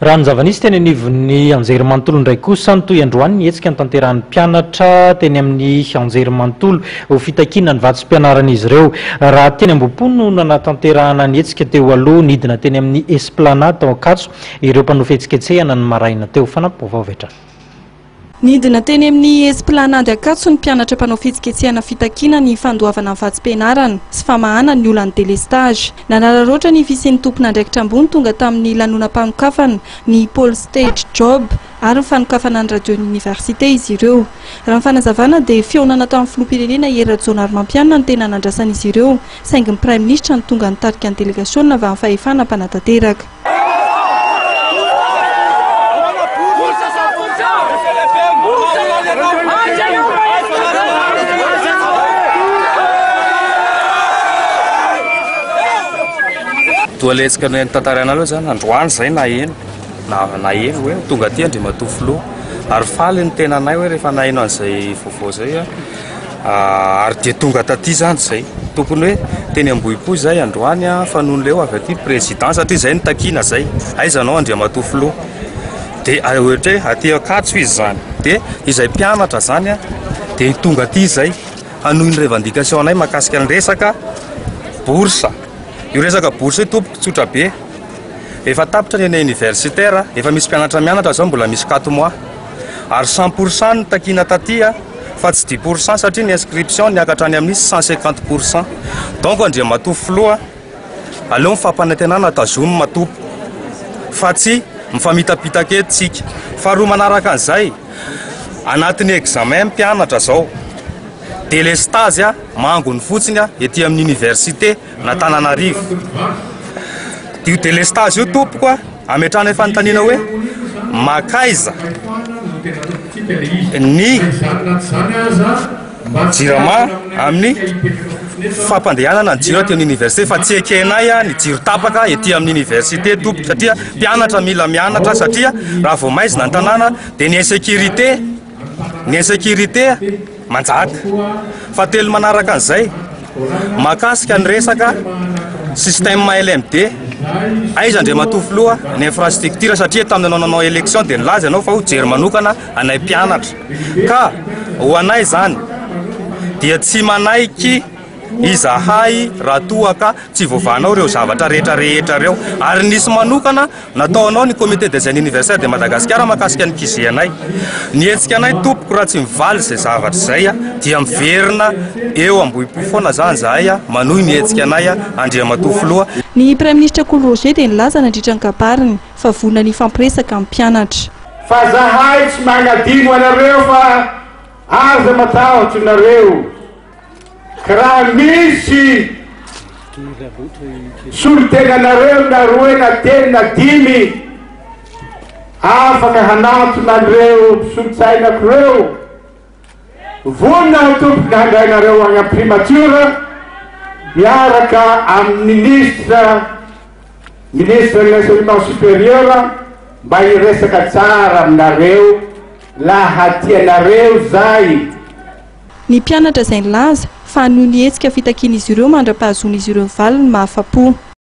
Raha ny zava-nisy teny anivon'ny anjerimanontolo indray kosa nitohy androany ny hetsika notanterahan'ny mpianatra teny amin'ny anjerimanontolo ho fitakiana ny vatsim-pianaran'izy ireo. Raha teny Ambohipo no nanatanterahana ny hetsika teo aloha, nidina teny amin'ny Esplanade tao Ankatso ireo mpanao fihetsiketsehana ny maraina teo. Fanampim-baovao avy hatrany. Nidina teny amin'ny Esplanade Ankatso ny mpianatra mpanao fihetsiketsehana fitakiana ny fandoavana ny vatsim-pianarana sy famahana ny olan'ny delestazy. Nanararaotra ny fisian'ny tompon'andraikitra ambony tonga tamin'ny lanonam-panokafana ny Pôly Stage Job ary ny fanokafana ny Radion'ny Oniversite izy ireo. Raha ny fanazavana dia fihaonana tamin'ny Filoham-pirenena Hery Rajaonarimampianina no tena nandrasan'izy ireo saingy ny Praiminisitra no tonga nitarika ny delegasiona avy amin'ny fahefana mpanatanteraka. Toa letsika noho ny tantara anareo izany androany izay naheno na naheno hoe tonga aty Andriamatoa Filoha ary faly ny tenanay hoe rehefa naheno an'izay vaovao izay Ary dia tonga taty izany izay. Tokony hoe teny Ambohipo izay androany fa nony leo avy aty président satria izay no takiana izay. Aiza anao Andriamatoa Filoha? Dia ohatra hoe aty Ankatso izy izany. Dia izay mpianatra izany dia tonga aty izay hanohy ny revendication anay mahakasika ny resaka bourse. Io resaka bourse io tompoko tsotra be. Efa tapitra ny any universitaire, efa misy mpianatra mianatra izao mbola misy quatre mois. Ary cent pour cent no takiana taty. fa tsy dix pour cent satria ny inscription niakatra any amin'ny cent cinquante pour cent donc Andriamatoa Filoha aleo ny fampanantenana tazomina Tompo fa tsy mifamitapitaka eto tsika faharoa manaraka an'izay anatin'ny examen ny mpianatra zao delestazy a mangony fotsiny a ety amin'ny université an'Antananarivo. Io delestage io tompoko a, ametrahana fanontaniana hoe makaiza ny jirama amin'ny fampandehanana ny jiro aty amin'ny université fa tsy ekenay ny jiro tapaka ety amin'ny université tompoko satria mpianatra mila mianatra satria raha vao maizina ny tanàna dia ny insécurité ny insécurité manjaka. Fahatelo manaraka an'izay, mahakasika ny resaka système LMD, aiza Andriamatoa Filoha ny infrastructure satria tamin'ny nanao nanao élection dia nilaza ianao fa ho jery manokana anay mpianatra. Ka ho anay izany dia tsy manaiky izahay raha toa ka tsy voavahanao ireo zavatra rehetra rehetra ireo. Ary nisy manokana Nataonao ny comité des jeunes universitaires de Madagascar makasika ny QG anay. Ny hetsika anay tompoko raha tsy mivaly izay zavatra izay dia miverina eo Ambohipo foana zany zahay manohy ny hetsika anay Andriamatoa Filoha. Ny Praiminisitra Kolo Roger dia nilaza nandritra ny kabariny fa vonona ny hifampiresaka amin'ny mpianatra. Fa zahay tsy magnadino anareo fa aza matahotro nareo. Raha misy solontenanareo na roe na telo na dimy afaka hanantona an'ireo mpisolotsainako ireo, vonona ny tompoko handrainareo any amin'ny primatiora miaraka amin'ny ministra ministre de l'enseignement supérieur mba hiresaka tsara aminareo laha tianareo zay Ny mpianatra izay nilaza fa noho ny hetsika fitakian'izy ireo mandra-pahazoan'izy ireo ny valiny mahafa-po.